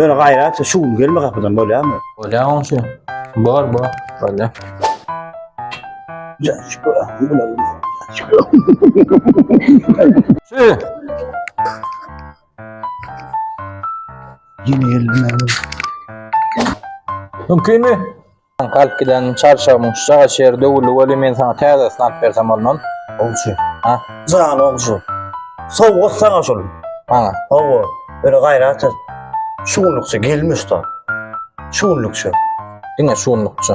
Ýöne gaýrat, şu gün gelme gapydan bolýarmy? Bolýar onşy. Bor, bor. Bolýar. Şu. Ýene gelme. Mümkinmi? Soňky alyp giden çarçagymyň şu çaga çeri döwüldi weli men saňa täzesini alyp bersem bolmaz. Ogşy. Ha? Jan ogşy. Sowgat saňa şul. Maňa. Hawa. Öle gaýrat et. Şu günlükçe gelmiş da. Şu günlükçe. Diňe şu günlükçe.